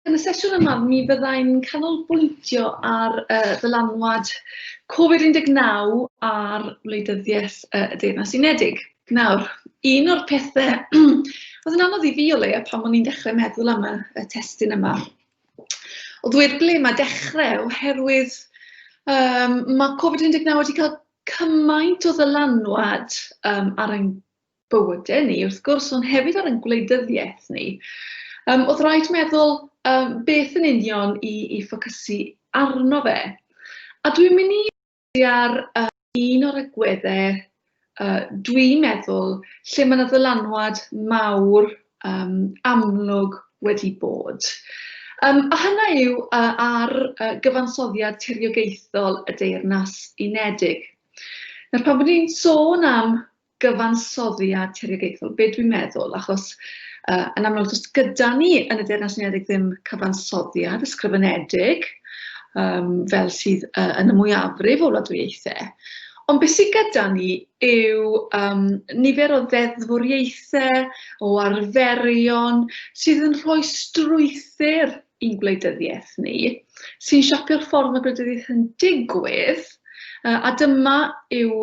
Yn y sesiwn yma, mi fydda i'n canolbwyntio ar yy ddylanwad Covid-19 ar wleidyddiaeth y Deyrnas Unedig. Nawr, un o'r pethe oedd yn anodd i fi o leia pan o'n i'n dechrau meddwl am y y testun yma oedd wir ble mae dechrau oherwydd yym ma' Covid-19 wedi cael cymaint o ddylanwad yym ar ein bywydau ni, wrth gwrs, ond hefyd ar ein gwleidyddiaeth ni, um, oedd rhaid meddwl um, beth yn union i, i ffocysu arno fe. A dwi'n mynd i ar uh, un o'r agweddau uh, dwi'n meddwl lle mae yna ddylanwad mawr um, amlwg wedi bod. Um, a hynna yw uh, ar uh, gyfansoddiad tiriogaethol y Deyrnas Unedig. Nawr, pan bod ni'n sôn am gyfansoddiad tiriogaethol, be dwi'n meddwl, achos uh, yn amlwg does gyda ni yn y Deyrnas Unedig ddim cyfansoddiad ysgrifenedig um, fel sydd uh, yn y mwyafrif o wladwriaethau. Ond beth sydd gyda ni yw um, nifer o ddeddfwriaethau, o arferion sydd yn rhoi strwythyr ein gwleidyddiaeth ni, sy'n siapio'r ffordd mae gwleidyddiaeth yn digwydd, a dyma yw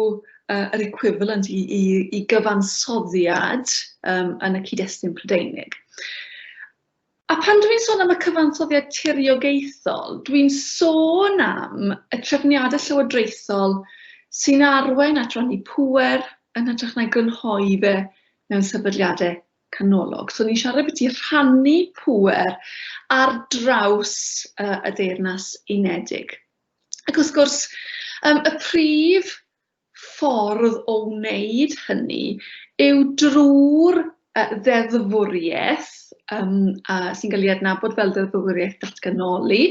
yr equivalent i, i, i gyfansoddiad um, yn y cyd-destun Prydeinig. A pan dwi'n sôn am y cyfansoddiad tiriogaethol, dwi'n sôn am y trefniadau llywodraethol sy'n arwain at rannu pŵer yn hytrach na'i grynhoi fe mewn sefydliadau canolog. So ni'n siarad beth i rhannu pŵer ar draws uh, y Deyrnas Unedig. Ac wrth gwrs, um, y prif ffordd o wneud hynny yw drwy'r uh, ddeddfwriaeth um, uh, sy'n cael ei adnabod fel ddeddfwriaeth datganoli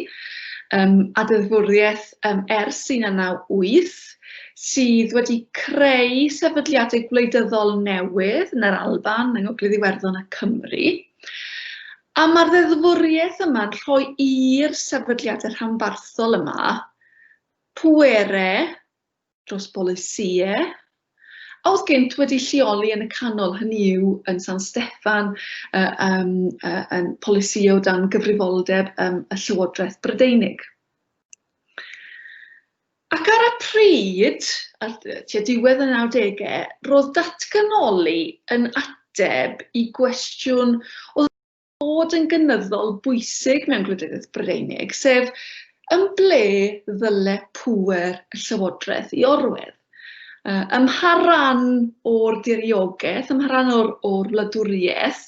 um, a ddeddfwriaeth um, ers 1998 sydd wedi creu sefydliadau gwleidyddol newydd yn yr Alban, yng Ngogledd Iwerddon a Cymru. A mae'r ddeddfwriaeth yma'n rhoi i'r sefydliadau rhanbarthol yma pwere dros bolisïau a oedd gynt wedi lleoli yn y canol, hynny yw yn San Steffan, uh, um, uh, yn polisi o dan gyfrifoldeb um, y Llywodraeth Brydeinig. Ac ar y pryd, ar tua diwedd y nawdegau, roedd datganoli yn ateb i gwestiwn oedd wedi bod yn gynyddol bwysig mewn gwleidyddiaeth Brydeinig, sef yn ble ddyle pŵer y llywodraeth i orwedd? Ym mha ran o'r diriogaeth, ym mha ran o'r wladwriaeth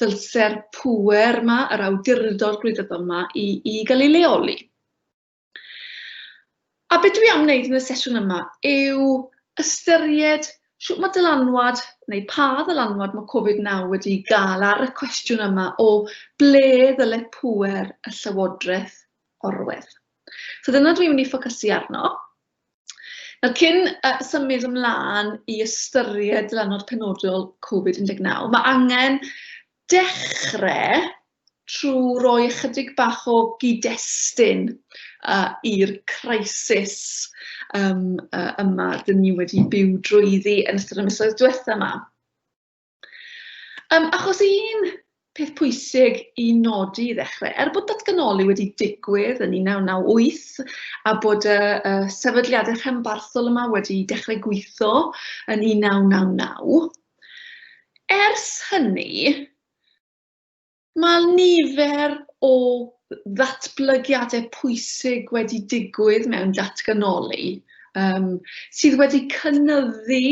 ddylse'r pŵer 'ma, yr awdurdod gwleidyddol 'ma, i gael ei leoli? A be dwi am wneud yn y sesiwn yma yw ystyried shwt mae dylanwad, neu pa ddylanwad mae Covid-19 wedi gael ar y cwestiwn yma o ble ddyle pŵer y Llywodraeth orwedd. So dyna dwi'n mynd i ffocysu arno. Nawr cyn uh, symud ymlaen i ystyried dylanwad penodol Covid-19, mae angen dechrau trwy roi ychydig bach o gyd-destun uh, i'r crisis um, uh, yma dyn ni wedi byw drwyddi yn ystod y misoedd diwetha yma. Um, achos un peth pwysig i nodi i ddechrau, er bod datganoli wedi digwydd yn 1998 a bod y, y sefydliadau rhanbarthol yma wedi dechrau gweithio yn 1999, ers hynny, Mae nifer o ddatblygiadau pwysig wedi digwydd mewn datganoli um, sydd wedi cynyddu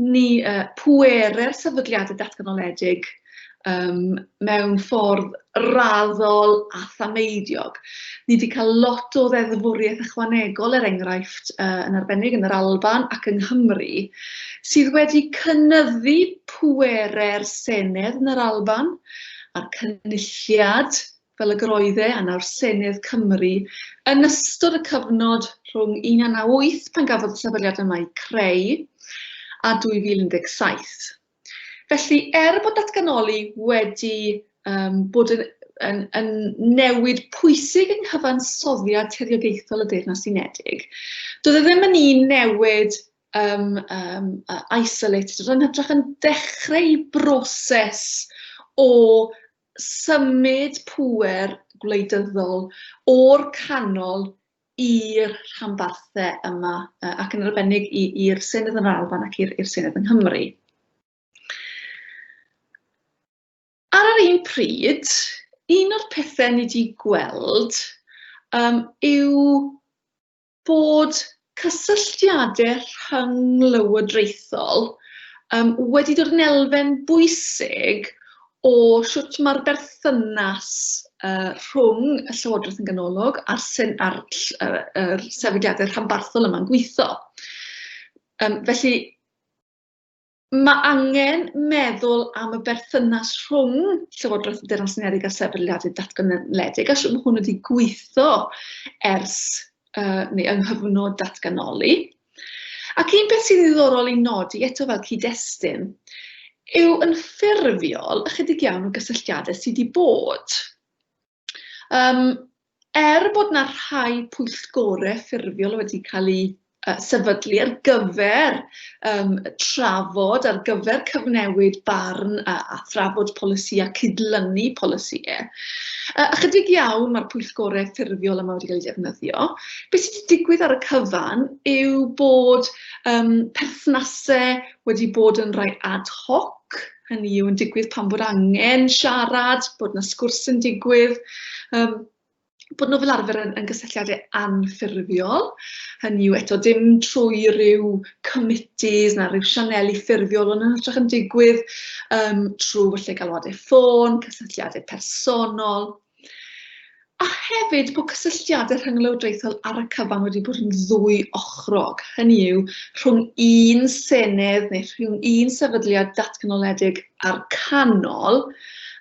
ni uh, pwere'r sefydliadau datganoledig um, mewn ffordd raddol a thameidiog. Ni wedi cael lot o ddeddfwriaeth ychwanegol er enghraifft uh, yn arbennig yn yr Alban ac yng Nghymru sydd wedi cynyddu pwerau'r Senedd yn yr Alban, a'r Cynulliad, fel y gyroedd e, a nawr Senedd Cymru, yn ystod y cyfnod rhwng 1998, pan gafodd y sefydliad yma ei creu, a 2017. Felly, er bod datganoli wedi um, bod yn yn, yn newid pwysig yng nghyfansoddiad tiriogaethol y Deyrnas Unedig. Doedd e ddim yn un newid um, um, uh, isolated, yn hytrach yn dechreu broses o symud pwer gwleidyddol o'r canol i'r rhanbarthau yma, ac yn arbennig i'r Senedd yn Alban ac i'r Senedd yng Nghymru. Ar yr un pryd, un o'r pethau ni wedi gweld um, yw bod cysylltiadau rhynglywodraethol um, wedi dod yn elfen bwysig o sut mae'r berthynas uh, rhwng y Llywodraeth yn ganolog a'r, sen, ar, uh, er sefydliadau rhanbarthol yma'n gweithio. Um, felly, Mae angen meddwl am y berthynas rhwng Llywodraeth y Deyrnas Unedig a sefydliadau datganoledig, a sut mae hwn wedi gweithio ers, uh, neu yng nghyfnod datganoli. Ac un beth sy'n ddiddorol i nodi eto fel cyd-destun yw yn ffurfiol ychydig iawn o gysylltiadau sydd wedi bod. Yym, er bod yna rhai pwyllgorau ffurfiol wedi cael eu sefydlu ar gyfer um, trafod, ar gyfer cyfnewid barn a, a thrafod polisi a cydlynu polisi. E. A chydig iawn mae'r pwyllgorau ffurfiol yma wedi cael eu defnyddio. Beth sydd wedi digwydd ar y cyfan yw bod um, perthnasau wedi bod yn rhai ad hoc, Hynny yw yn digwydd pan bod angen siarad, bod yna sgwrs yn digwydd, um, bod nhw fel arfer yn, yn gysylltiadau anffurfiol. Hynny yw eto dim trwy rhyw committees na rhyw sianeli ffurfiol, ond yn hytrach yn digwydd um, trwy falle galwadau ffôn, cysylltiadau personol, A hefyd bod cysylltiadau rhynglywodraethol ar y cyfan wedi bod yn ddwy ochrog, hynny yw rhwng un senedd neu rhwng un sefydliad datganoledig a'r canol,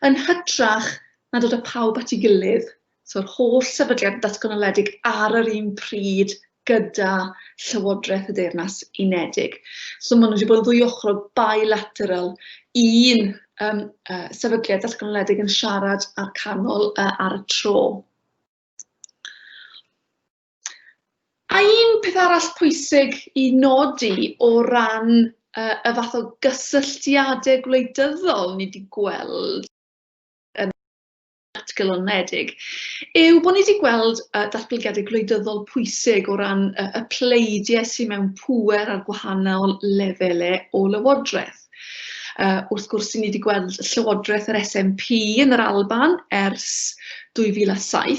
yn hytrach na dod â phawb at ei gilydd, so'r holl sefydliad datganoledig ar yr un pryd gyda Llywodraeth y Deyrnas Unedig. So maen nhw wedi bod yn ddwy ochrol bilateral i'n um, uh, sefydliad datganoledig yn siarad â'r canol uh, ar y tro. A un peth arall pwysig i nodi o ran uh, y fath o gysylltiadau gwleidyddol ni wedi gweld yn atglonedig, yw bod ni wedi gweld uh, datblygiadau gwleidyddol pwysig o ran uh, y pleidiau sydd mewn pŵer ar gwahanol lefelau o lywodraeth. Uh, wrth gwrs, ni wedi gweld llywodraeth yr SNP yn yr Alban ers 2007,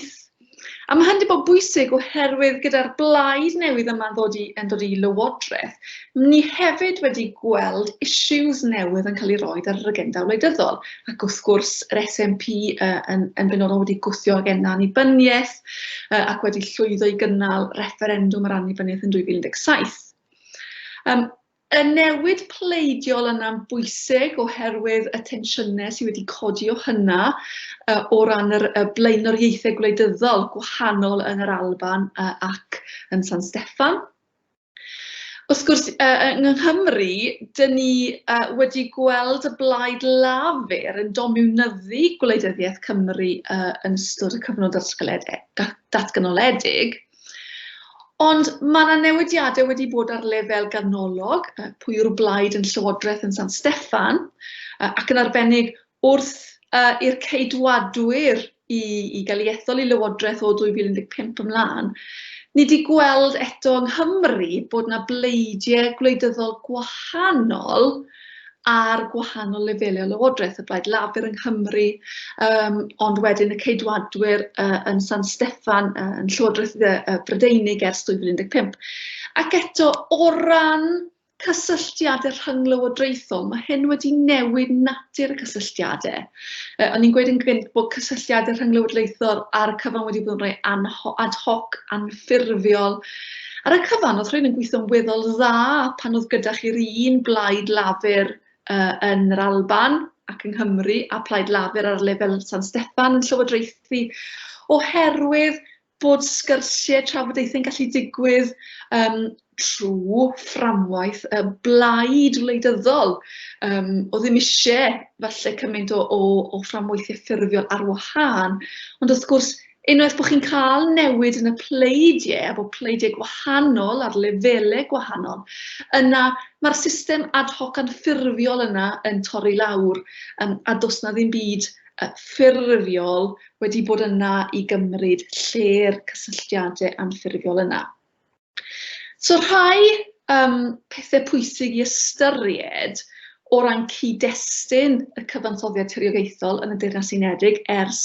A mae hyn wedi bod bwysig oherwydd gyda'r blaid newydd yma'n ddod i, yn dod i lywodraeth, ni hefyd wedi gweld issues newydd yn cael ei roed ar yr agenda wleidyddol. Ac wrth gwrs, yr SNP uh, yn, yn benodol wedi gwthio agenda annibyniaeth uh, ac wedi llwyddo i gynnal referendwm ar annibyniaeth yn 2017. Um, Y newid pleidiol yna'n bwysig oherwydd y tensiynau sydd wedi codi o hynna o ran yr yy blaenoriaethau gwleidyddol gwahanol yn yr Alban yy ac yn San Steffan. Wrth gwrs yy yng Nghymru, dyn ni yy wedi gweld y Blaid Lafur yn domiwnyddu gwleidyddiaeth Cymru yy yn ystod y cyfnod datgylede- da- datganoledig. Ond mae yna newidiadau wedi bod ar lefel ganolog, pwy yw'r blaid yn Llywodraeth yn San Steffan, ac yn arbennig wrth i'r Ceidwadwyr i, i gael ei ethol i Lywodraeth o 2015 ymlaen, ni wedi gweld eto yng Nghymru bod yna bleidiau gwleidyddol gwahanol ar gwahanol lefelu o lywodraeth, y Blaid Lafur yng Nghymru, um, ond wedyn y Ceidwadwyr uh, yn San Steffan, uh, yn Llywodraeth uh, Brydeinig ers 2015. Ac eto, o ran cysylltiadau rhynglywodraethol, mae hyn wedi newid natur y cysylltiadau. Yy o'n i'n gweud yn gynt bod cysylltiad y rhynglywodraethol ar y cyfan wedi bod yn rhai anho- ad hoc, anffurfiol. Ar y cyfan oedd rhain yn gweithio'n weddol dda pan oedd gyda chi'r un blaid lafur uh, yn yr Alban ac yng Nghymru a plaid lafur ar lefel San Steffan yn llywodraethu oherwydd bod sgyrsiau, trafodaethau'n gallu digwydd yym trwy fframwaith y blaid wleidyddol yym oedd ddim isie falle cymaint o o o fframweithiau ffurfiol ar wahân, ond wrth gwrs unwaith bod chi'n cael newid yn y pleidiau a bod pleidiau gwahanol ar lefelau gwahanol, yna mae'r system ad hoc anffurfiol yna yn torri lawr yym a does 'na ddim byd ffurfiol wedi bod yna i gymryd lle'r cysylltiadau anffurfiol yna. So rhai um, pethau pwysig i ystyried o ran cyd-destun y cyfansoddiad tiriogaethol yn y Deyrnas Unedig ers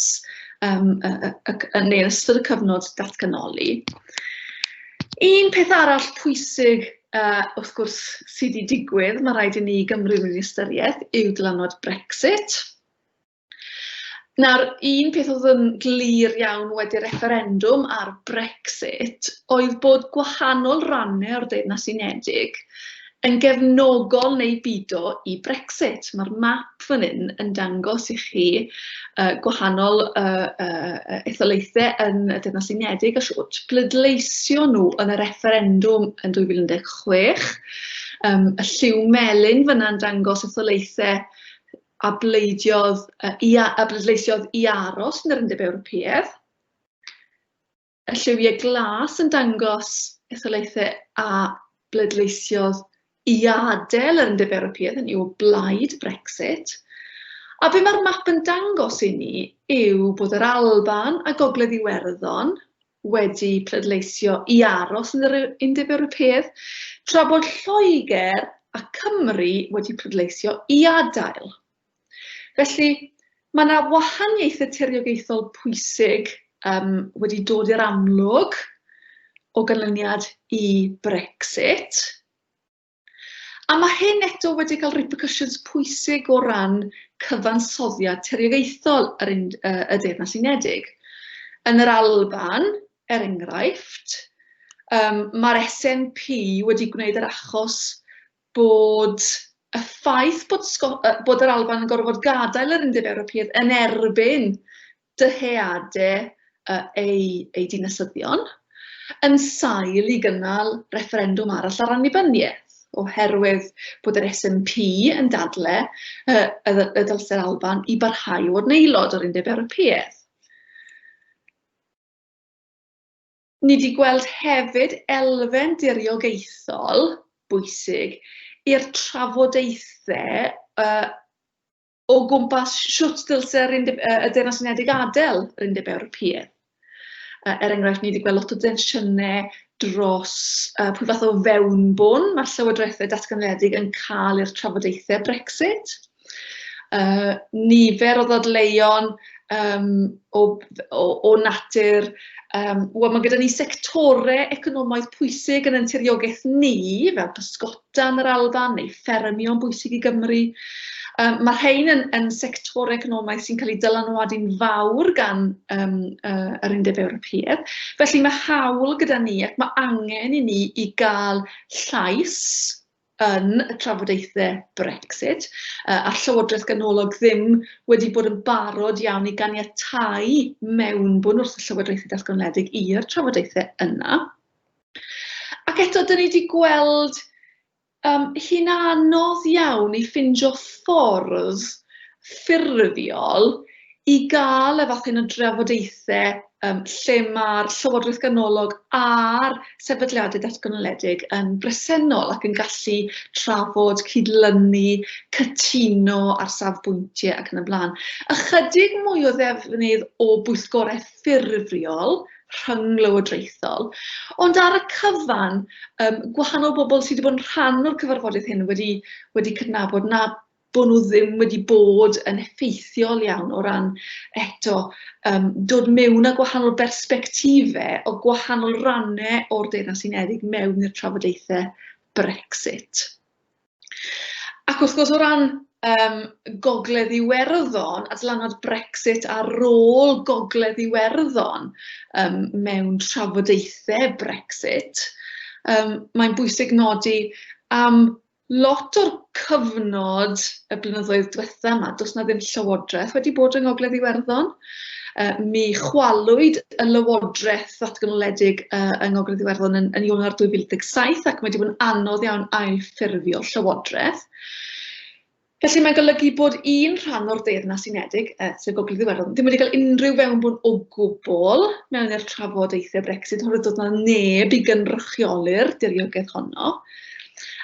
um, y, y, y, y, neu ystod y cyfnod datganoli. Un peth arall pwysig uh, wrth gwrs sydd wedi digwydd, mae rhaid i ni Gymru mewn ystyriaeth, yw dylanwad Brexit. Nawr, un peth oedd yn glir iawn wedi refferendwm ar Brexit oedd bod gwahanol rannau o'r Deyrnas Unedig yn gefnogol neu bido i Brexit. Mae'r map fan hyn yn dangos i chi gwahanol etholaethau yn y Deyrnas Unedig a shwt pleidleisio nhw yn y refferendwm yn 2016. Y lliw melyn fan'na yn dangos etholaethau a bleidiodd i a, a bleidleisiodd i aros yn yr Undeb Ewropeaidd. Y lliwiau glas yn dangos etholaethau a bleidleisiodd i adael yr Undeb Ewropeaidd, yn yw blaid Brexit. A be mae'r map yn dangos i ni yw bod yr Alban a Gogledd Iwerddon wedi pleidleisio i aros yn yr Undeb Ewropeaidd, tra bod Lloegr a Cymru wedi pleidleisio i adael. Felly, mae yna wahaniaethau tiriogaethol pwysig um, wedi dod i'r amlwg o ganlyniad i Brexit. A mae hyn eto wedi cael repercussions pwysig o ran cyfansoddiad terigaethol yr un, uh, y Deyrnas Unedig. Yn yr Alban, er enghraifft, um, mae'r SNP wedi gwneud yr achos bod y ffaith bod, bod yr Alban yn gorfod gadael yr Undeb Ewropeaidd yn erbyn dyheadau eu eu dinasyddion, yn sail i gynnal refferendwm arall ar annibyniaeth, oherwydd bod yr SNP yn dadle y y dylse'r Alban i barhau i fod yn aelod o'r Undeb Ewropeaidd. Ni di gweld hefyd elfen diriogaethol bwysig i'r trafodaethau y o gwmpas shwt ddylse yr undeb, uh, y Deyrnas Unedig adael yr Undeb Ewropeaidd. Uh, er enghraifft, ni wedi gweld lot o densiynau dros uh, pwy fath o fewnbwn mae'r llywodraethau datganoledig yn cael i'r trafodaethau Brexit. Uh, nifer o ddadleuon um, o, o, o natur Um, Wel, mae gyda ni sectorau economaidd pwysig yn anturiogaeth ni, fel pysgota, dan yr Alban neu ffermio'n bwysig i Gymru. Um, mae rhain yn, yn sector economaidd sy'n cael ei dylanwadu'n fawr gan um, uh, yr Undeb Ewropeaidd. Felly mae hawl gyda ni ac mae angen i ni i gael llais yn y trafodaethau Brexit, uh, a'r Llywodraeth Ganolog ddim wedi bod yn barod iawn i ganiatau mewnbwn wrth y Llywodraethau Datganoledig i'r trafodaethau yna. Ac eto, dan ni 'di gweld yym hi'n anodd iawn i ffindio ffordd ffurfiol i gael y fath hyn o drafodaethau yym lle ma'r Llywodraeth Ganolog a'r sefydliadau datganoledig yn bresennol ac yn gallu trafod, cydlynu, cytuno ar safbwyntiau ac yn y blaen. Ychydig mwy o ddefnydd o bwyllgorau ffurfiol rhynglywodraethol. Ond ar y cyfan, um, gwahanol bobl sydd wedi bod yn rhan o'r cyfarfodydd hyn wedi, wedi cydnabod na bod nhw ddim wedi bod yn effeithiol iawn o ran eto um, dod mewn â gwahanol bersbectife o gwahanol rannau o'r Deyrnas Unedig mewn i'r trafodaethau Brexit. Ac wrth gwrs o ran yym Gogledd Iwerddon a dylanwad Brexit ar rôl Gogledd Iwerddon yym mewn trafodaethau Brexit, yym mae'n bwysig nodi am lot o'r cyfnod y blynyddoedd diwetha' 'ma does 'na ddim llywodraeth wedi bod yng Ngogledd Iwerddon. Mi chwalwyd y Lywodraeth Ddatganoledig yng Ngogledd Iwerddon yn, yn Ionawr 2017 ac mae wedi bod yn anodd iawn ailffurfio Llywodraeth. Felly mae'n golygu bod un rhan o'r Deyrnas Unedig, uh, sef Gogledd Iwerddon, ddim wedi cael unrhyw fewnbwn o gwbl mewn i'r trafodaethau Brexit, oherwydd dod na neb i gynrychioli'r diriogaeth honno.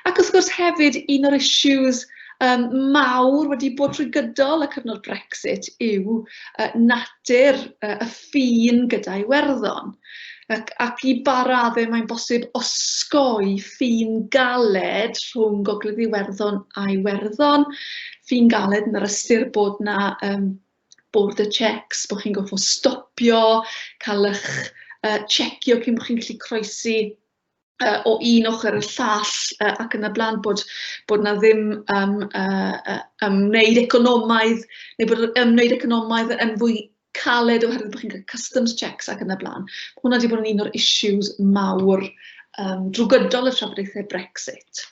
Ac wrth gwrs hefyd, un o'r issues yym mawr wedi bod trwy gydol y cyfnod Brexit yw yy natur yy y ffin gyda Iwerddon. Ac ac i ba raddau mae'n bosib osgoi ffin galed rhwng Gogledd Iwerddon a Iwerddon, ffin galed yn yr ystyr bod 'na yym border checks, bod chi'n gorfod stopio, cael eich yy checio cyn bod chi'n gallu croesi uh, o un ochr i'r llall uh, ac yn y blaen bod, bod na ddim um, uh, ymwneud economaidd neu bod ymwneud economaidd yn fwy caled oherwydd bod chi'n cael customs checks ac yn y blaen. Hwna wedi bod yn un o'r issues mawr um, drwy gydol y trafodaethau Brexit.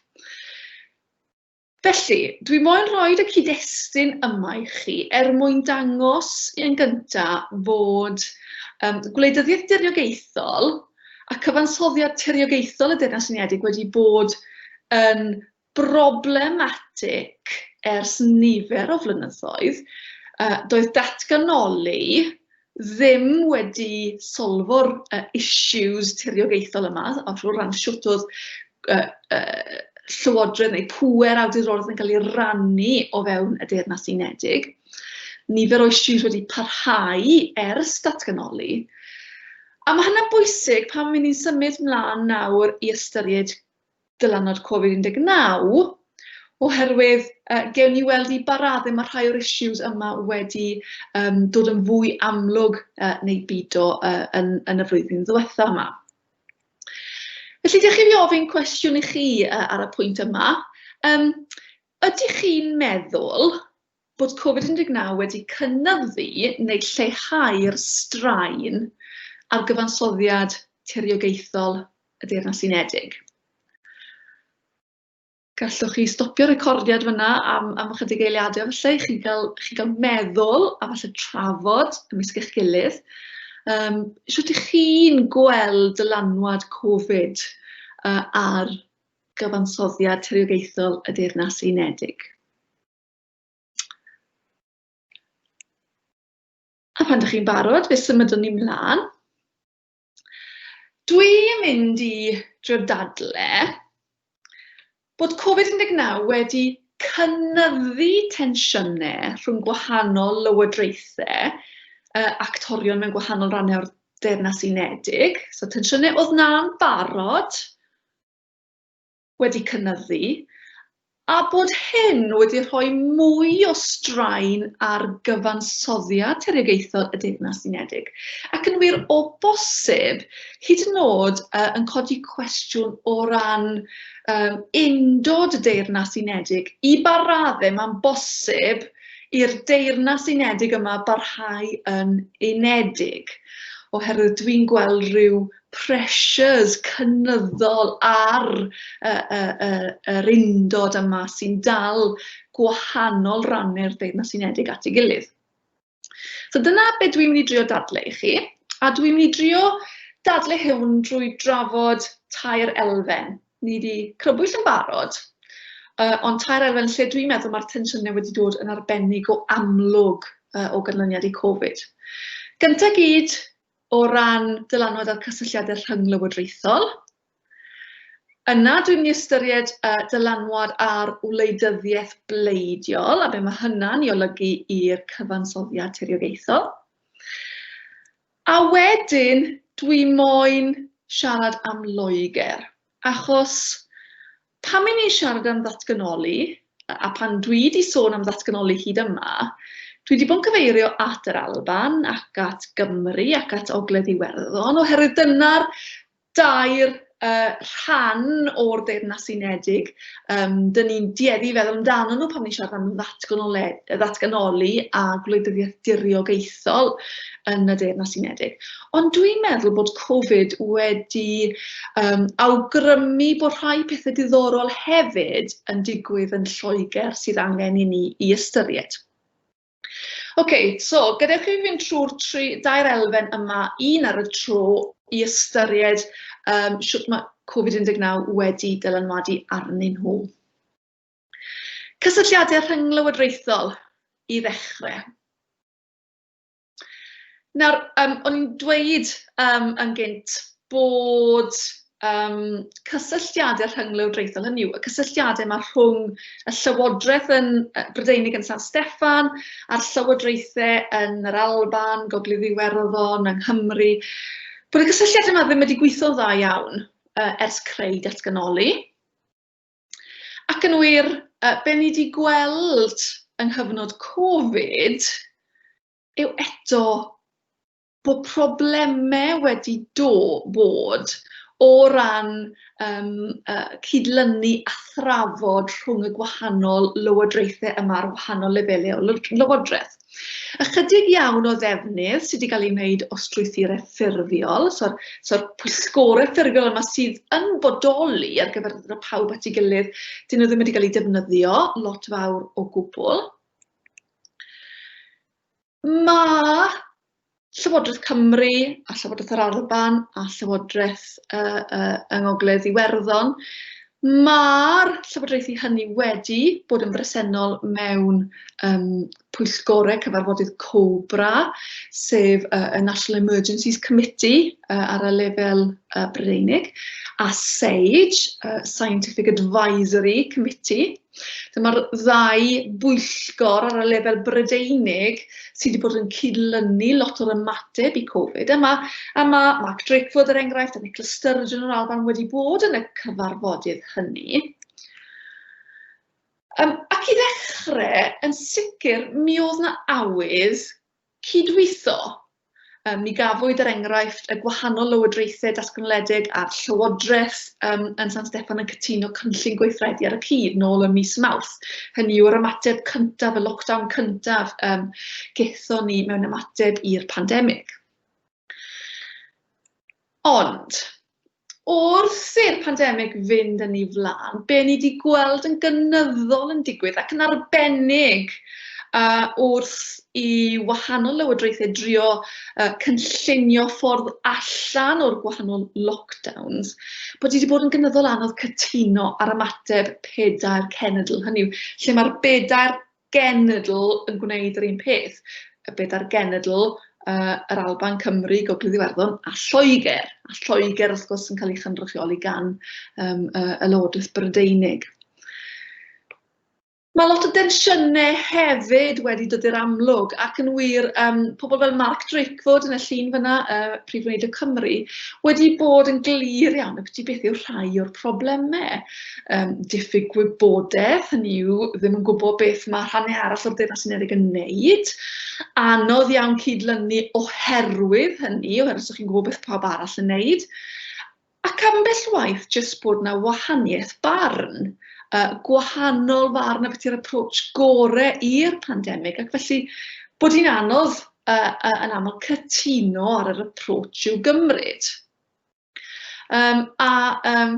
Felly, dwi moyn rhoid y cyd-destun yma i chi er mwyn dangos yn gynta' fod yym gwleidyddiaeth diriogaethol a cyfansoddiad tiriogaethol y Deyrnas Unedig wedi bod yn broblematig ers nifer o flynyddoedd. Yy doedd datganoli ddim wedi solfo'r issues tiriogaethol yma, o ran shwt oedd llywodraeth neu pŵer awdurdodol yn cael ei rannu o fewn y Deyrnas Unedig. Nifer o issues wedi parhau ers datganoli. A mae hynna'n bwysig pan mynd ni'n symud mlaen nawr i ystyried dylanwad Covid 19 oherwydd yy gewn ni weld i ba raddau mae rhai o'r issues yma wedi um, dod yn fwy amlwg uh, neu bido uh, yn, yn y flwyddyn ddiwetha yma. Felly, ydych chi fi ofyn cwestiwn i chi uh, ar y pwynt yma. Um, ydych chi'n meddwl bod Covid 19 wedi cynyddu neu lleihau'r straen ar gyfansoddiad tiriogaethol y Deyrnas Unedig. Gallwch chi stopio recordiad fyna am, am ychydig eiliadau falle i chi gael, chi gael meddwl a falle trafod ymysg eich gilydd. Um, Sut ych chi'n gweld dylanwad Covid uh, ar gyfansoddiad tiriogaethol y Deyrnas Unedig? A phan dach chi'n barod, fe symudwn ni mlaen. Dwi yn mynd i drio dadle bod Covid 19 wedi cynyddu tensiynau rhwng gwahanol lywodraethau, yy actorion mewn gwahanol rannau o'r Deyrnas Unedig, so tensiynau oedd 'na'n barod, wedi cynyddu a bod hyn wedi rhoi mwy o straen ar gyfansoddiad tiriogaethol y Deyrnas Unedig, ac yn wir, o bosib, hyd yn oed yn codi cwestiwn o ran um, undod y Deyrnas Unedig, i ba raddau mae'n bosib i'r Deyrnas Unedig yma barhau yn unedig oherwydd dwi'n gweld rhyw pressures cynyddol ar y y y yr undod yma sy'n dal gwahanol rannau'r Deyrnas Unedig at ei gilydd. So dyna be dwi'n mynd i drio dadle i chi, a dwi'n mynd i drio dadle hwn drwy drafod tair elfen. Ni wedi crybwyll yn barod, uh, ond tair elfen lle dwi'n meddwl mae'r tensiynau wedi dod yn arbennig o amlwg uh, o ganlyniad i Covid. Gyntaf gyd, o ran dylanwad ar cysylltiadau rhynglywodraethol. Yna dwi'n mynd i ystyried uh, dylanwad ar wleidyddiaeth bleidiol a be mae hynna'n ei olygu i'r cyfansoddiad tiriogaethol. A wedyn dwi moyn siarad am Loegr, achos Pan ry'n ni'n siarad am ddatganoli, a pan dwi 'di sôn am ddatganoli hyd yma, dwi 'di bod yn cyfeirio at yr Alban ac at Gymru ac at Ogledd Iwerddon, oherwydd dyna'r dair rhan o'r Deyrnas Unedig ry'n ni'n dueddu i feddwl amdanyn nhw pan ni'n siarad am ddatganoli a gwleidyddiaeth diriogaethol yn y Deyrnas Unedig. Ond dwi'n meddwl bod Covid wedi um, awgrymu bod rhai pethau diddorol hefyd yn digwydd yn Lloegr sydd angen i ni i ystyried. Oce, okay, so gadewch chi fynd trwy'r tri, dair elfen yma, un ar y tro i ystyried um, sut mae Covid-19 wedi dylanwadu arnyn nhw. Cysylltiadau rhynglywodraethol i ddechrau. Nawr, yym, o'n i'n dweud yym yn gynt bod yym cysylltiadau rhynglywdriaethol, hynny yw, y cysylltiadau 'ma rhwng y llywodraeth yn yy Brydeinig yn San Steffan a'r llywodraethau yn yr Alban, Gogledd Iwerddon, yng Nghymru, bod y cysylltiadau 'ma ddim wedi gweithio'n dda iawn yy ers creu datganoli. Ac yn wir, be ni wedi gweld yng nghyfnod Covid yw eto bod problemau wedi do, bod o ran yym yy cydlynu a thrafod rhwng y gwahanol lywodraethau yma ar wahanol lefelau o lywodraeth. Ychydig iawn o ddefnydd sydd wedi cael ei wneud o strwythurau ffurfiol, so'r so pwysgorau ffurfiol yma sydd yn bodoli ar gyfer y pawb at ei gilydd, dyn nhw ddim wedi cael ei defnyddio lot fawr o gwbl. Mae Llywodraeth Cymru a Llywodraeth yr Alban a Llywodraeth uh, uh, yng Ngogledd Iwerddon. Mae'r llywodraethu hynny wedi bod yn bresennol mewn um, pwyllgorau cyfarfodydd COBRA, sef uh, y National Emergencies Committee uh, ar y lefel uh, Brydeinig, a SAGE, uh, Scientific Advisory Committee, So mae'r ddau bwyllgor ar y lefel Brydeinig sydd wedi bod yn cydlynu lot o'r ymateb i Covid. A mae, a mae Mark Drakeford er enghraifft a Nicola Sturgeon o'r Alban wedi bod yn y cyfarfodydd hynny. Um, ac i ddechrau, yn sicr, mi oedd na awydd Cydweithio, Ym mi gafwyd er enghraifft y gwahanol lywodraethau datganoledig a'r llywodraeth ym, yn San Steffan yn cytuno cynllun gweithredu ar y cyd nôl ym mis Mawrth. Hynny yw'r ymateb cyntaf, y lockdown cyntaf ym, gaethon ni mewn ymateb i'r pandemig. Ond, wrth i'r pandemig fynd yn ei flaen, be ni wedi gweld yn gynyddol yn digwydd, ac yn arbennig uh, wrth i wahanol lywodraethau drio uh, cynllunio ffordd allan o'r gwahanol lockdowns, bod wedi bod yn gynyddol anodd cytuno ar ymateb pedair cenedl. Hynny yw, lle mae'r bedair genedl yn gwneud yr un peth, y bedair genedl, uh, yr Alban, Cymru, Gogledd Iwerddon a Lloegr. A Lloegr wrth gwrs yn cael ei chynrychioli gan um, uh, y Lywodraeth Brydeinig. Mae lot o densiynau hefyd wedi dod i'r amlwg ac yn wir um, pobl fel Mark Drakeford yn y llun fyna, uh, Prif Wneud y Cymru, wedi bod yn glir iawn y beth yw'r rhai o'r problemau. um, diffyg gwybodaeth, hynny yw ddim yn gwybod beth mae rhannau arall o'r Deyrnas Unedig yn wneud. Anodd iawn cydlynu oherwydd hynny, oherwydd sa'ch chi'n gwybod beth pawb arall yn wneud. Ac ambell waith jyst bod na wahaniaeth barn, uh, gwahanol farn a beth yw'r approach gore i'r pandemig, ac felly bod hi'n anodd uh, uh, yn aml cytuno ar yr approach i'w gymryd. Um, a um,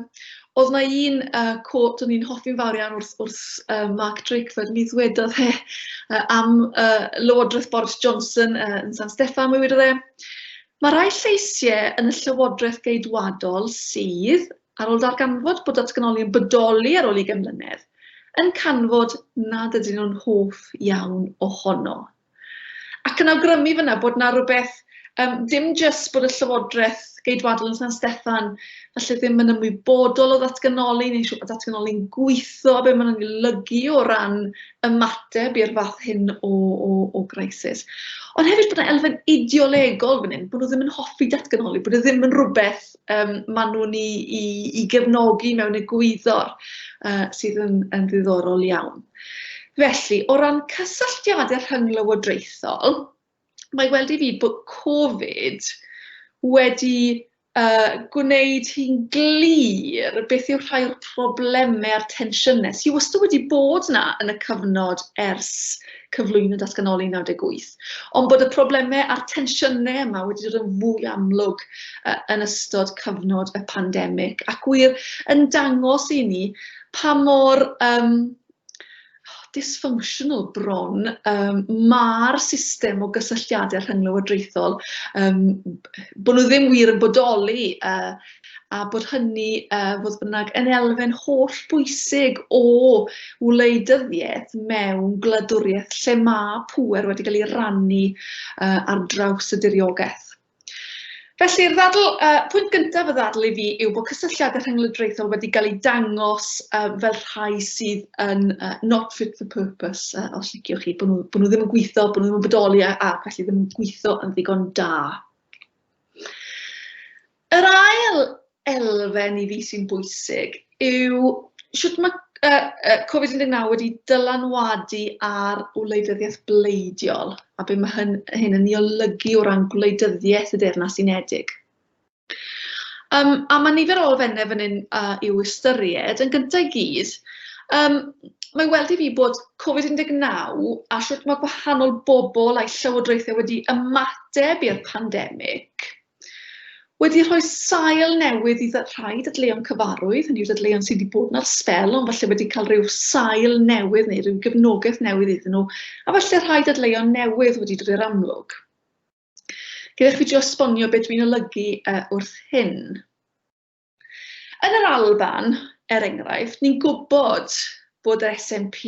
oedd na un uh, quote o'n i'n hoffi'n fawr iawn wrth, wrth uh, Mark Drakeford, mi ddwedodd e uh, am uh, Lywodraeth Boris Johnson uh, yn San Steffan, mi wedodd e, Mae rhai lleisiau yn y Llywodraeth Geidwadol sydd, ar ôl darganfod bod datganoli yn bodoli ar ôl i mlynedd, yn canfod nad ydyn nhw'n hoff iawn ohono. Ac yn awgrymu fan'na bod 'na rywbeth, yym dim jyst bod y Llywodraeth Geidwadol yn San Steffan falle ddim yn ymwybodol o ddatganoli neu'n siŵr bod datganoli'n gweithio, be maen nhw'n ei lygu o ran ymateb i'r fath hyn o o o grisis. Ond hefyd bod 'na elfen ideolegol fan hyn, bod nhw ddim yn hoffi datganoli, bod e ddim yn rywbeth yym maen nhw'n i i i gefnogi mewn egwyddor yy sydd yn yn ddiddorol iawn. Felly, o ran cysylltiadau rhynglywodraethol, mae i weld i fi bod Covid wedi yy gwneud hi'n glir beth yw rhai o'r problemau a'r tensiynau sy wastad wedi bod 'na yn y cyfnod ers cyflwyno datganoli 98, ond bod y problemau a'r tensiynau yma wedi dod yn fwy amlwg yn ystod cyfnod y pandemig, ac wir yn dangos i ni pa mor um, dysfunctional bron um, mae'r system o gysylltiadau rhynglywodraethol, um, bod nhw ddim wir yn bodoli uh, a bod hynny, uh, fodd bynnag, yn elfen holl bwysig o wleidyddiaeth mewn gwladwriaeth lle mae pŵer wedi cael ei rannu uh, ar draws y diriogaeth. Felly'r ddadl, uh, pwynt gyntaf y ddadl i fi yw bod cysylltiadau rhynglydraethol wedi cael ei dangos uh, fel rhai sydd yn uh, not fit for purpose, uh, os liciwch chi, bod nhw, bod nhw ddim yn gweithio, bod nhw ddim yn bodoli a, a felly ddim yn gweithio yn ddigon da. Yr ail elfen i fi sy'n bwysig yw shwt ma' yy yy Covid un deg naw wedi dylanwadu ar wleidyddiaeth bleidiol, a be ma' hyn- hyn yn ei olygu o ran gwleidyddiaeth y Deyrnas Unedig. Yym a ma' nifer o elfenne fan hyn yy i'w ystyried, yn gynta' i gyd yym ma' i weld i fi bod Covid un deg naw a shwt ma' gwahanol bobl a'u llywodraethe wedi ymateb i'r pandemig, wedi rhoi sail newydd i rhai dadleuon cyfarwydd, hynny yw dadleuon sydd wedi bod na'r sbel ond falle wedi cael rhyw sail newydd neu rhyw gefnogaeth newydd iddyn nhw, a falle rhai dadleuon newydd wedi dod i'r amlwg. Gyda chi drio esbonio beth dwi'n olygu uh, wrth hyn. Yn yr Alban, er enghraifft, ni'n gwybod bod yr SNP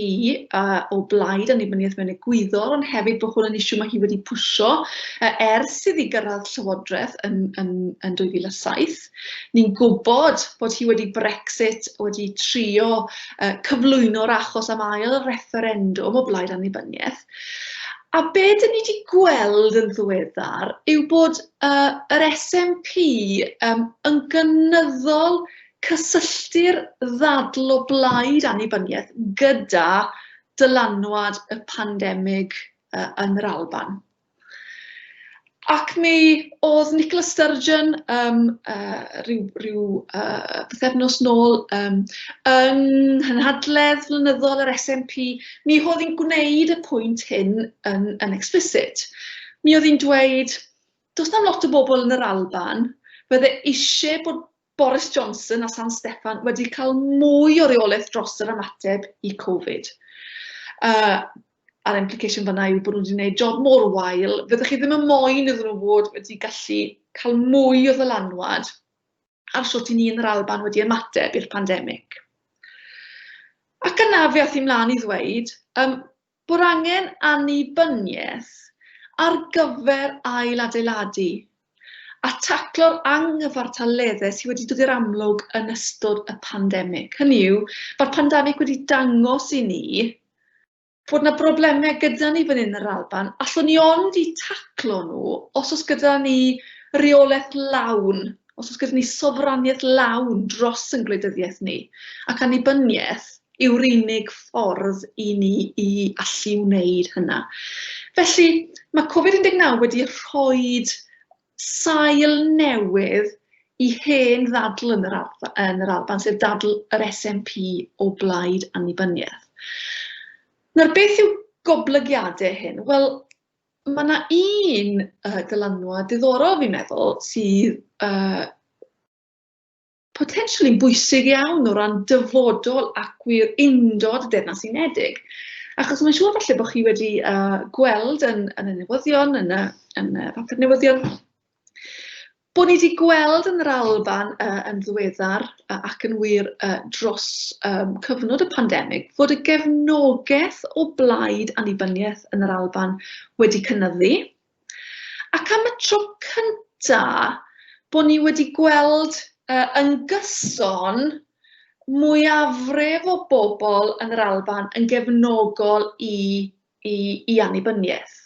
uh, o blaid annibyniaeth mewn egwyddor, ond hefyd bod hwn yn isiw mae hi wedi pwysio uh, ers iddi gyrraedd llywodraeth yn, yn, yn 2007. Ni'n gwybod bod hi wedi Brexit wedi trio uh, cyflwyno'r achos am ail referendwm o blaid annibyniaeth. A be dyn ni wedi gweld yn ddiweddar yw bod Yy yr SNP yym yn gynyddol cysylltu'r ddadl o blaid annibyniaeth gyda dylanwad y pandemig yy yn yr Alban. Ac mi o'dd Nicola Sturgeon yym yy ryw ryw yy pythefnos nôl yym yng nghynhadledd flynyddol yr SNP mi h'odd 'i'n gwneud y pwynt hyn yn yn explicit. Mi oedd hi'n dweud, does na'm lot o bobl yn yr Alban fydde isie bod Boris Johnson a San Steffan wedi cael mwy o reolaeth dros yr ymateb i Covid. Uh, a'r implication fanna yw bod nhw wedi gwneud job mor wael, fyddwch chi ddim yn moyn iddyn nhw fod wedi gallu cael mwy o ddylanwad ar sut i ni yn yr Alban wedi ymateb i'r pandemig. Ac yna fe ath i mlaen i ddweud um, bod angen annibyniaeth ar gyfer ail adeiladu a taclo'r anghyfartaleddau sydd wedi dod i'r amlwg yn ystod y pandemig. Hynny yw, mae'r pandemig wedi dangos i ni bod yna broblemau gyda ni fan hyn yn yr Alban, allwn ni ond eu taclo nhw os oes gyda ni reolaeth lawn, os oes gyda ni sofraniaeth lawn dros ein gwleidyddiaeth ni, ac annibyniaeth yw'r unig ffordd i ni i allu wneud hynna. Felly, mae Covid-19 wedi rhoi sail newydd i hen ddadl yn yr yn yr Alban, sef dadl yr SNP o blaid annibyniaeth. Nawr, beth yw goblygiadau hyn? Wel, mae yna un uh, dylanwad diddorol fi'n meddwl sydd uh, Potentially'n bwysig iawn o ran dyfodol ac wir undod y Deyrnas Unedig. Achos mae'n siŵr falle bod chi wedi uh, gweld yn, yn y newyddion, yn y, yn y papur newyddion, bod ni wedi gweld yn yr Alban uh, yn ddiweddar uh, ac yn wir uh, dros um, cyfnod y pandemig fod y gefnogaeth o blaid annibyniaeth yn yr Alban wedi cynyddu. Ac am y tro cynta bo ni wedi gweld yy yn gyson mwyafrif o bobl yn yr Alban yn gefnogol i i i annibyniaeth.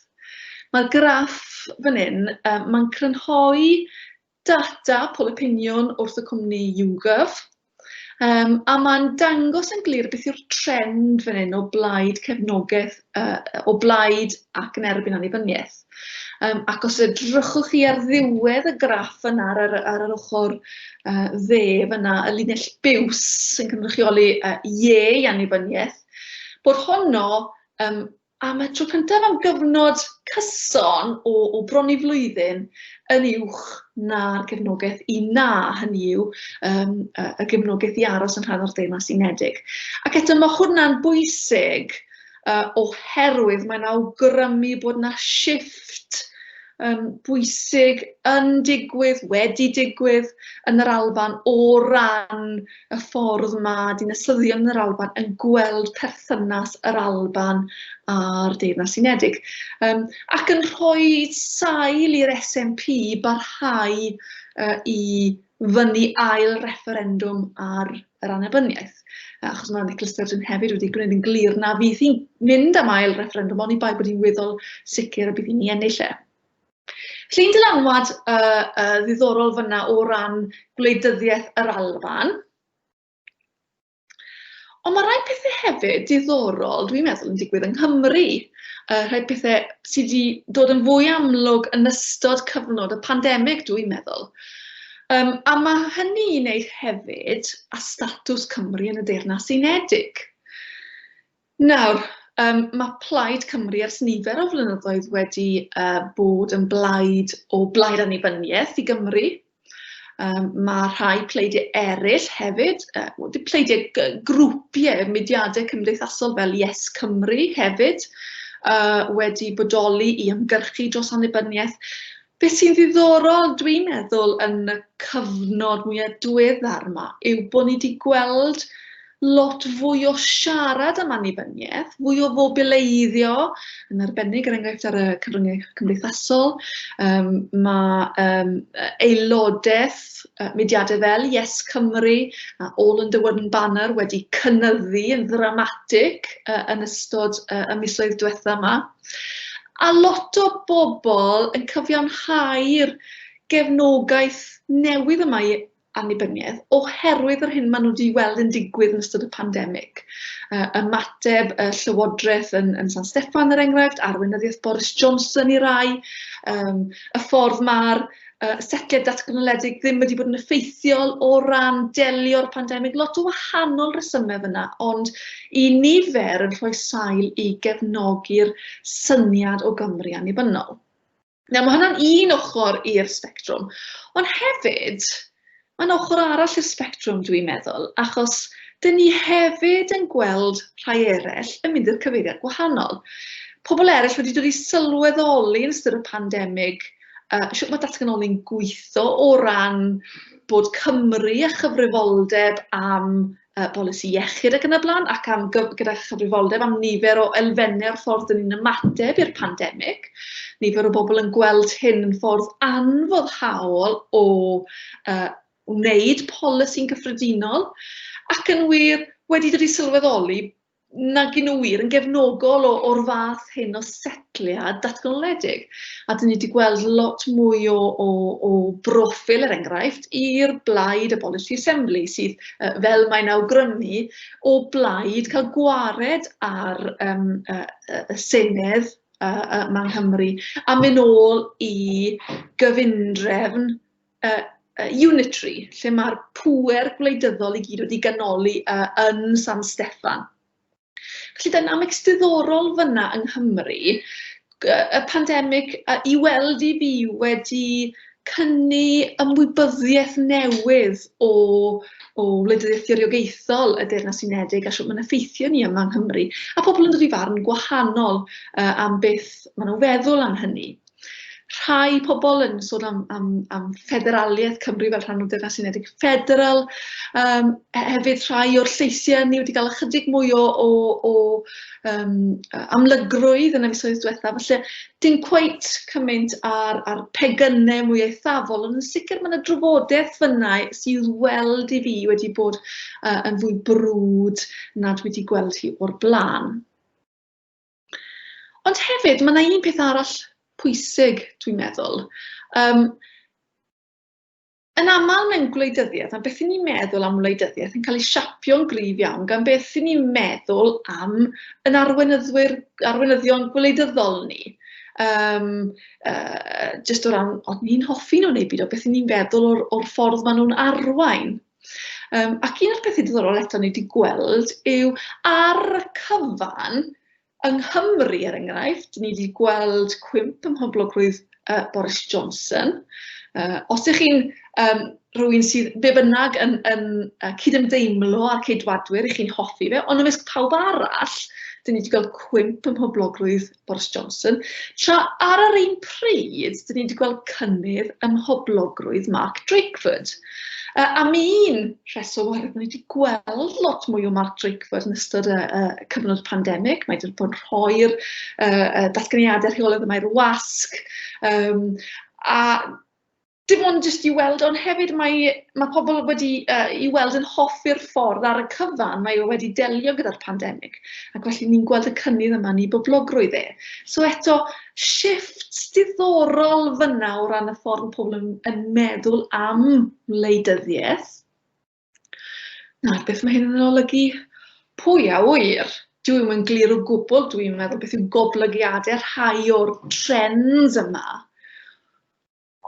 Ma'r graff fan 'yn yy ma'n crynhoi data polopiniwn wrth y cwmni YouGov, um, a mae'n dangos yn glir beth yw'r trend fan hyn o blaid cefnogaeth, uh, o blaid ac yn erbyn annibyniaeth. Um, ac os edrychwch chi ar ddiwedd y graff yna ar, ar, ar yr ochr uh, dde fyna, y linell biws sy'n cynrychioli uh, ie i annibyniaeth, bod honno um, am y tro cyntaf am gyfnod cyson o, o bron i flwyddyn yn uwch na'r gefnogaeth i na, hynny yw um, y gefnogaeth i aros yn rhan o'r Deyrnas Unedig. Ac eto mae hwnna'n bwysig uh, oherwydd mae'n awgrymu bod yna shift um, bwysig yn digwydd, wedi digwydd yn yr Alban o ran y ffordd mae dinasyddion yn yr Alban yn gweld perthynas yr Alban a'r Deyrnas Unedig, um, ac yn rhoi sail i'r SNP barhau uh, i fyny ail referendwm ar yr annibyniaeth. Achos mae Nicola Sturgeon hefyd wedi gwneud yn glir na fydd hi'n mynd am ail referendwm, ond i bai bod hi'n weddol sicr y bydd hi'n ei ennill e. Llun dylanwad uh, uh, ddiddorol fyna o ran gwleidyddiaeth yr Alban. Ond mae rhai pethau hefyd diddorol, dwi'n meddwl, yn digwydd yng Nghymru. Uh, rhai pethau sydd wedi dod yn fwy amlwg yn ystod cyfnod y pandemig, dwi'n meddwl. Um, a mae hynny i wneud hefyd a statws Cymru yn y Deyrnas Unedig. Nawr, um, mae Plaid Cymru ers nifer o flynyddoedd wedi uh, bod yn blaid o blaid annibyniaeth i Gymru. Um, mae rhai pleidiau eraill hefyd, uh, pleidiau grwpiau, mudiadau cymdeithasol fel Yes Cymru hefyd, uh, wedi bodoli i ymgyrchu dros annibyniaeth. Beth sy'n ddiddorol, dwi'n meddwl, yn y cyfnod mwya' diweddar 'ma yw bo' ni 'di gweld lot fwy o siarad am annibyniaeth, fwy o fobileiddio, yn arbennig er enghraifft ar y cyfryngau cymdeithasol. Um, mae um, aelodaeth uh, mudiadau fel Yes Cymru a All Under One Banner wedi cynyddu yn ddramatig uh, yn ystod uh, y misoedd diwetha yma. A lot o bobl yn cyfiawnhau'r gefnogaeth newydd yma i annibyniaeth oherwydd yr hyn maen nhw 'di weld yn digwydd yn ystod y pandemig. Yy ymateb y Llywodraeth yn yn San Steffan er enghraifft, arweinyddiaeth Boris Johnson i rai, yym y ffordd ma'r yy setliad datganoledig ddim wedi bod yn effeithiol o ran delio'r pandemig. Lot o wahanol resymau fyna, ond i nifer yn rhoi sail i gefnogi'r syniad o Gymru annibynnol. Nawr, mae hwnna'n un ochr i'r sbectrwm, ond hefyd, Mae'n ochr arall i'r sbectrwm dwi'n meddwl, achos dyn ni hefyd yn gweld rhai eraill yn mynd i'r cyfeiriad gwahanol. Pobl eraill wedi dod i sylweddoli yn ystod y pandemig uh, sut mae datganoli'n gweithio o ran bod Cymru a chyfrifoldeb am y polisi iechyd ac yn y blaen, ac am gyf- gyda chyfrifoldeb am nifer o elfennau o'r ffordd dyn ni'n ymateb i'r pandemig. Nifer o bobl yn gweld hyn yn ffordd anfoddhaol o uh, wneud polisi'n gyffredinol ac yn wir wedi dod i sylweddoli nag y'n nhw wir yn gefnogol o o'r fath hyn o setliad datganoledig. A dyn ni wedi gweld lot mwy o, o, o broffil, er enghraifft, i'r blaid y Policy Assembly, sydd, uh, fel mae'n awgrymu, o blaid cael gwared ar um, uh, uh, Senedd uh, uh, yma Nghymru, a mynd ôl i gyfundrefn yy yy unitary, lle ma'r pŵer gwleidyddol i gyd wedi ganoli yy yn San Steffan. Felly dynamics diddorol fan'na yng Nghymru, gy- y pandemig yy i weld i fi wedi cynni ymwybyddiaeth newydd o o wleidyddiaeth gyfriogaethol y Deyrnas Unedig a shwt ma'n effeithio ni yma yng Nghymru, a pobl yn dod i farn gwahanol yy am beth ma' nhw'n feddwl am hynny. rhai pobl yn sôn am, am, am ffederaliaeth Cymru fel rhan o Deyrnas Unedig Federal. Um, hefyd rhai o'r lleisiau ni wedi cael ychydig mwy o, o, o um, amlygrwydd yn y misoedd diwetha. Felly, dim cweit cymaint ar, ar pegynau mwy eithafol, ond yn sicr mae yna drafodaeth fyna sydd weld i fi wedi bod uh, yn fwy brwd nad wedi gweld hi o'r blaen. Ond hefyd, mae yna un peth arall pwysig, dwi'n meddwl. Um, yn aml mewn gwleidyddiaeth, a beth ni'n meddwl am wleidyddiaeth yn cael ei siapio'n gryf iawn gan beth ni'n meddwl am yn arweinyddwyr, arweinyddion gwleidyddol ni. Um, uh, just o ran, ond ni'n hoffi nhw neu byd o beth ni'n feddwl o'r, or ffordd maen nhw'n arwain. Um, ac un o'r pethau diddorol eto ni wedi gweld yw ar y cyfan, yng Nghymru er enghraifft, ni wedi gweld cwymp ym mhoblogrwydd uh, Boris Johnson. Uh, os ych chi'n um, rhywun sydd be bynnag yn, yn uh, cydymdeimlo â'r ceidwadwyr, ych chi'n hoffi fe, ond ymysg pawb arall, dyn ni wedi gweld cwymp ym mhoblogrwydd Boris Johnson, tra ar yr un pryd, dyn ni wedi gweld cynnydd ym mhoblogrwydd Mark Drakeford. Uh, am un rheswm oherwydd ni wedi gweld lot mwy o Mark Drakeford yn ystod y, y cyfnod pandemig. Mae wedi bod yn rhoi'r uh, datganiadau rheolaidd y mae'r wasg. Um, a dim ond jyst i weld, ond hefyd mae mae pobl wedi yy i weld yn hoffi'r ffordd ar y cyfan mae o wedi delio gyda'r pandemig, ac felly ni'n gweld y cynnydd yma yn ei boblogrwydd e. So eto, shifft diddorol fyna o ran y ffordd mae pobl yn, yn meddwl am wleidyddiaeth. Nawr, beth mae hyn yn olygu? Pwy a wyr? Dwi ddim yn glir o gwbl, dwi'n meddwl beth yw goblygiadau rhai o'r trends yma.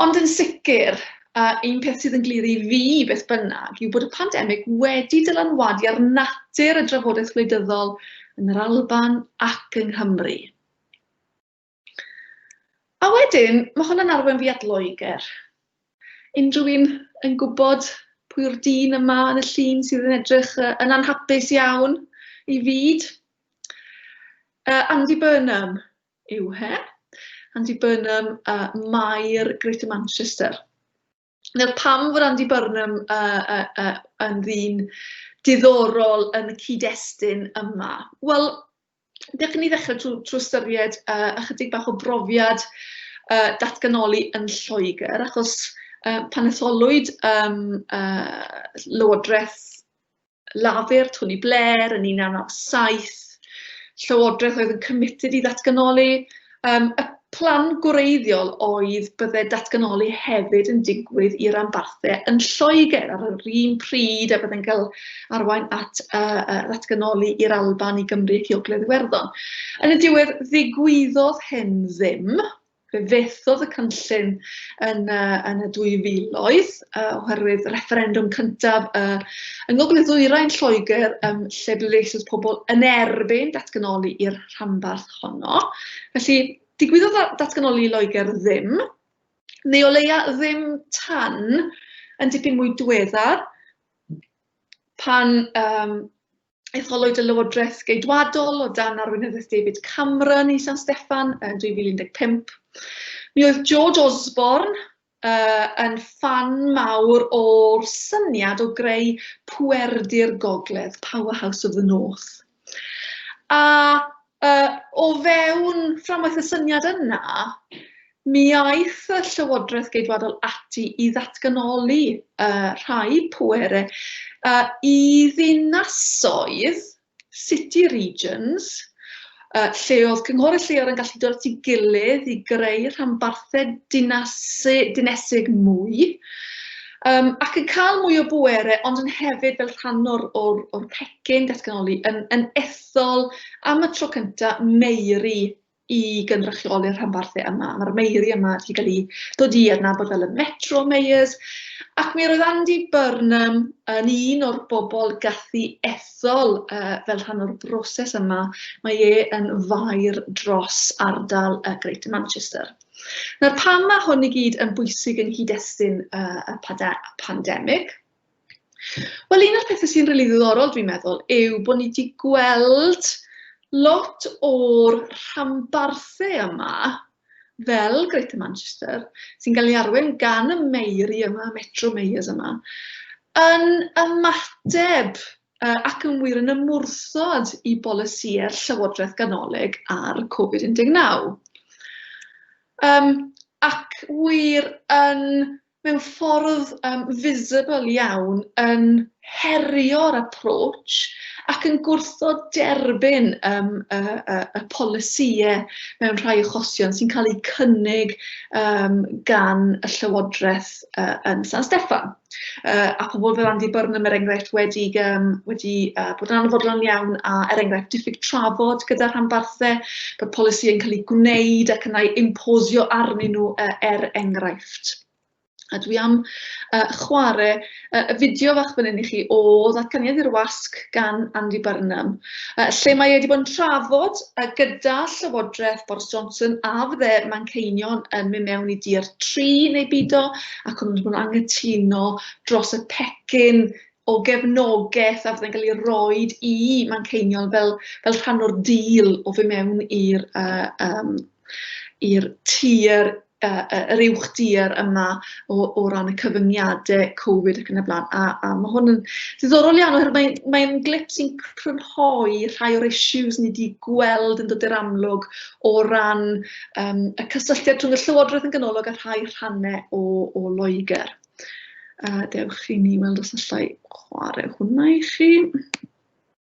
Ond yn sicr, a un peth sydd yn glir i fi beth bynnag, yw bod y pandemig wedi dylanwadu ar natur y drafodaeth wleidyddol yn yr Alban ac yng Nghymru. A wedyn, mae hwn yn arwain fi at Loegr. Unrhyw un yn gwybod pwy yw'r dyn yma yn y llun sydd yn edrych yn anhapus iawn i fyd? Uh, Andy Burnham, yw he, Andy Burnham, uh, Maer Greater Manchester. Nawr, pam fod Andy Burnham uh, uh, uh, yn ddyn diddorol yn y cyd-destun yma? Wel, dechrau ni ddechrau trwy, trwy ystyried uh, ychydig bach o brofiad uh, datganoli yn Lloegr, achos uh, pan etholwyd um, uh, Lywodraeth Lafur, Tony Blair, yn 1997, Llywodraeth oedd yn committed i ddatganoli, um, y plan gwreiddiol oedd bydde datganoli hefyd yn digwydd i ranbarthau yn Lloegr ar yr un pryd a bydde'n cael arwain at uh, uh, ddatganoli i'r Alban i Gymru ac i Ogledd Iwerddon. Yn y diwedd, ddigwyddodd hyn ddim, Fe fethodd y cynllun yn y yn y dwy filoedd yy oherwydd y refferendwm cyntaf yy yng Ngogledd Ddwyrain Lloegr yym lle ble eisoes pobl yn erbyn datganoli i'r rhanbarth honno. Felly digwyddodd datganoli i Loegr ddim, neu o leia ddim tan yn dipyn mwy diweddar pan yym etholwyd y Lywodraeth Geidwadol o dan arweinyddiaeth David Cameron i San Steffan yn 2015. Mi oedd George Osborne uh, yn fan mawr o'r syniad o greu pwerdi'r gogledd, Powerhouse of the North. A uh, o fewn fframwaith y syniad yna, Mi aeth y Llywodraeth Geidwadol ati i ddatganoli y rhai pwerau i ddinasoedd, city regions, lle oedd cynghorydd lleol yn gallu dod at ei gilydd i greu rhanbarthau dinesig mwy ac yn cael mwy o bwerau ond yn hefyd fel rhan o'r pecyn datganoli yn ethol am y tro cyntaf meiri i gynrychioli'r rhanbarthau yma. Mae'r Meiri yma wedi cael ei dod i adnabod fel y Metro Mayors, ac mi roedd Andy Burnham yn un o'r bobl gathu ethol uh, fel rhan o'r broses yma. Mae e yn fair dros ardal y Greater Manchester. Nawr pam mae hwn i gyd yn bwysig yn nghyd-destun uh, y pandemig? Wel, un o'r pethau sy'n rili ddiddorol dwi'n meddwl yw bod ni wedi gweld lot o'r rhanbarthau yma, fel Greater Manchester, sy'n cael ei arwain gan y Meiri yma, Metro Mayors yma, yn ymateb ac yn wir yn ymwrthod i bolisïau'r Llywodraeth Ganolig ar Covid-19. Ac wir yn mewn ffordd yym visible iawn yn herio'r approach ac yn gwrthod derbyn yym y y y polisiye mewn rhai achosion sy'n cael eu cynnig yym gan y Llywodraeth yy yn San Steffan. Yy a pobl fel Andy Burnham er enghraifft wedi yym wedi yy bod yn anfodlon iawn a er enghraifft diffyg trafod gyda rhanbarthau bod polisi'n cael eu gwneud ac yna impozio arnyn nhw yy er enghraifft. grefft. A dwi am yy chware yy y fideo fach fan hyn i chi o Ddatganiad i'r Wasg gan Andy Burnham, yy lle mae e wedi bod yn trafod yy gyda Llywodraeth Boris Johnson a fydde Manceinion yn mynd mewn i dir tri neu bido ac o'n nhw'n angytuno dros y pecyn o gefnogaeth a fydde'n cael ei roed i Manceinion fel, fel rhan o'r dîl o fy mewn i'r uh, um, i'r tir yr uwch dir yma o, o ran y cyfyngiadau Covid ac yn y blaen. A, a mae hwn yn ddiddorol iawn oherwydd mae'n mae, mae glip sy'n crynhoi rhai o'r issues ni wedi gweld yn dod i'r amlwg o ran um, y cysylltiad rhwng y llywodraeth yn ganolog a rhai rhannau o, o Loegr. Uh, dewch i ni weld os allai chwarae hwnna i chi.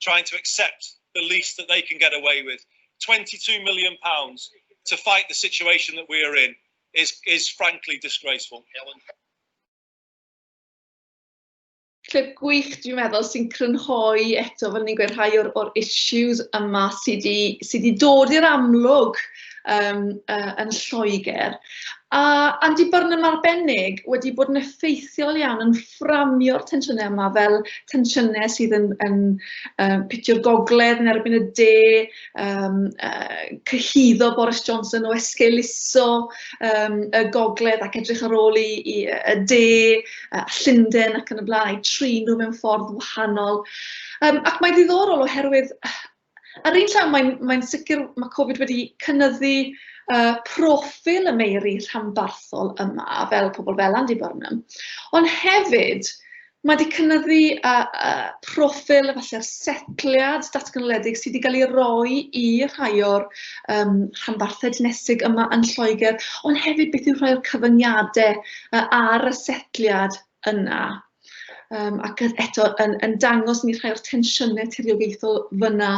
trying to accept the least that they can get away with. £22 million pounds to fight the situation that we are in is, is frankly disgraceful. Clip gwych, dwi'n meddwl, sy'n crynhoi eto, fel ni'n gweud, rhai o'r, or issues yma sydd wedi sy dod i'r amlwg um, uh, yn Lloegr. A Andy Burnham arbennig wedi bod yn effeithiol iawn yn fframio'r tensiynau yma fel tensiynau sydd yn, yn uh, pitio'r gogledd yn erbyn y de, um, uh, cyhyddo Boris Johnson o esgeuluso um, y gogledd ac edrych ar ôl i, i y de, uh, Llundain ac yn y blaen, a'i trin nhw mewn ffordd wahanol. Um, ac mae'n ddiddorol oherwydd Ar yr un llaw, mae'n mae'n sicr ma' Covid wedi cynyddu yy proffil y meiri rhanbarthol yma fel pobl fel Andy Burnham, ond hefyd ma' 'di cynyddu yy yy proffil efalle'r setliad datganoledig sy' 'di ga'l 'i roi i rhai o'r yym rhanbarthau dinesig yma yn Lloegr, ond hefyd beth yw rhai o'r cyfyngiade yy ar y setliad yna yym ac yn eto yn yn dangos ni rhai o'r tensiynne tiriogaethol fyna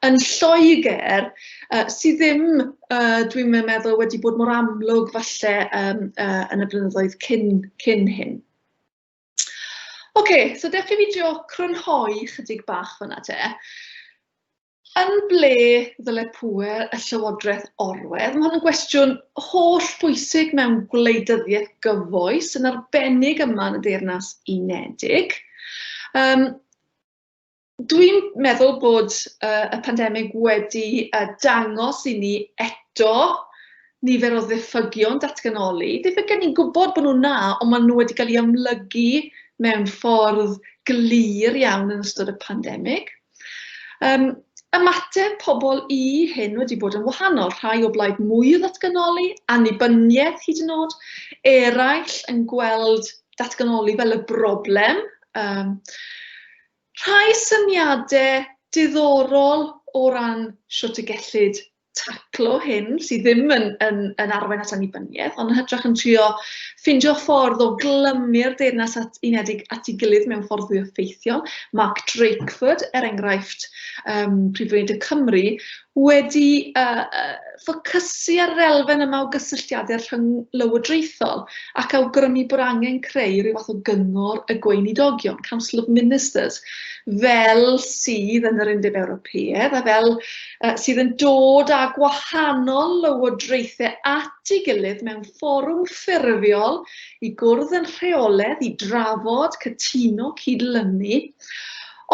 yn Lloegr yy sy ddim yy dwi'm yn meddwl wedi bod mor amlwg falle yym yy yn y blynyddoedd cyn cyn hyn. Ocê so dewch i fi drio crynhoi chydig bach fyna te. Yn ble ddyle pŵer y Llywodraeth orwedd? Mae hwn yn gwestiwn holl bwysig mewn gwleidyddiaeth gyfoes, yn arbennig yma yn y Deyrnas Unedig. Um, Dwi'n meddwl bod uh, y pandemig wedi uh, dangos i ni eto nifer o ddiffygion datganoli. Ddiffygion ni'n gwybod bod nhw na, ond maen nhw wedi cael eu amlygu mewn ffordd glir iawn yn ystod y pandemig. Um, ymateb pobl i hyn wedi bod yn wahanol, rhai o blaid mwy o ddatganoli, annibyniaeth hyd yn oed, eraill yn gweld datganoli fel y broblem. Um, rhai syniadau diddorol o ran sut y gellid taclo hyn sydd ddim yn yn yn arwain at annibyniaeth, ond yn hytrach yn trio ffindio ffordd o glymu'r Deyrnas at, Unedig at ei gilydd mewn ffordd fwy effeithiol. Mark Drakeford, er enghraifft, um, Prif Weinidog Cymru, wedi uh, uh, ffocysu ar yr elfen yma o gysylltiadau rhwng lywodraethol ac awgrymu bod angen creu rhyw fath o gyngor y gweinidogion, Council of Ministers, fel sydd yn yr Undeb Ewropeaidd a fel sydd yn dod â gwahanol lywodraethau at ei gilydd mewn fforwm ffurfiol i gwrdd yn rheoledd, i drafod, cytuno, cydlynu,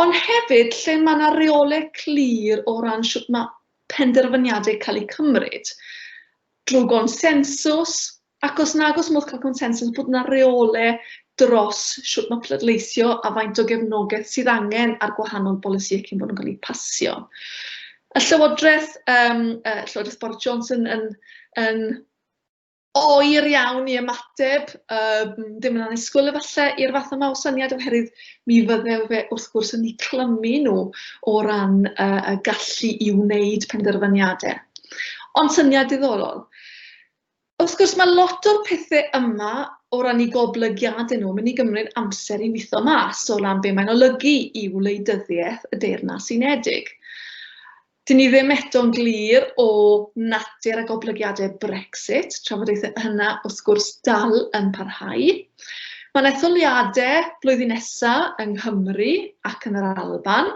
ond hefyd lle mae yna reolau clir o ran sut mae penderfyniadau cael eu cymryd, drwy gonsensws, Ac os nag oes modd cael consensws, bod yna reolau dros sut mae pleidleisio a faint o gefnogaeth sydd angen ar gwahanol bolisïau cyn bod nhw'n cael eu pasio. Y Llywodraeth, um, uh, Llywodraeth Boris Johnson yn, yn oer iawn i ymateb, um, ddim yn annisgwyl efallai i'r fath yma o syniad oherwydd mi fydde fe wrth gwrs yn ei clymu nhw o ran uh, y gallu i wneud penderfyniadau. Ond syniad diddorol. Wrth gwrs, mae lot o'r pethe yma, o ran 'u goblygiade nhw, yn mynd i gymryd amser i witho mas, o ran be mae'n olygu i wleidyddiaeth y Deyrnas Unedig. Dyn ni ddim eto'n glir o natur a goblygiadau Brexit, trafodaethau hynna, wrth gwrs, dal yn parhau. Mae'n etholiadau blwyddyn nesaf yng Nghymru ac yn yr Alban,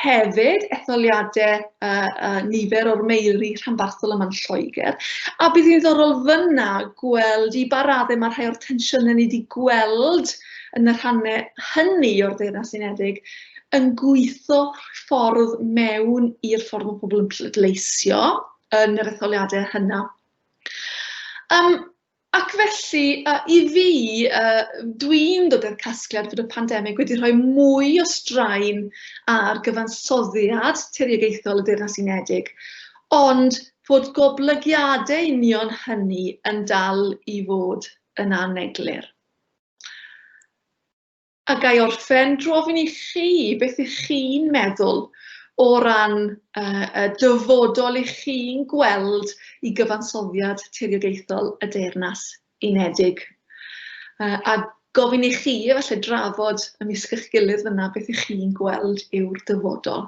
hefyd etholiadau uh, uh, nifer o'r meiri rhanbarthol yma'n Lloegr, a bydd hi'n ddorol fyna gweld i ba raddau mae rhai o'r tensiynau ni wedi gweld yn y rhannau hynny o'r Deyrnas Unedig yn gweithio ffordd mewn i'r ffordd mae pobl yn pleidleisio yn yr etholiadau hynna. Um, Ac felly, i fi, dwi'n dod i'r casgliad bod y pandemig wedi rhoi mwy o straen ar gyfansoddiad tiriogaethol y Deyrnas Unedig, ond bod goblygiadau union hynny yn dal i fod yn aneglur. A ga i orffen drwy ofyn i chi beth ych chi'n meddwl o ran yy y dyfodol ych chi'n gweld i gyfansoddiad tiriogaethol y Deyrnas Unedig? Yy a gofyn i chi efallai drafod ymysg eich gilydd fanna beth ych chi'n gweld yw'r dyfodol.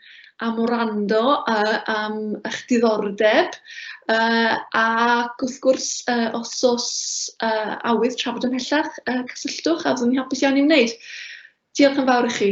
am wrando a am eich diddordeb yy ac wrth gwrs yy os oes yy awydd trafod ymhellach yy cysylltwch a fyddwn ni'n hapus iawn i'w wneud. Diolch yn fawr i chi.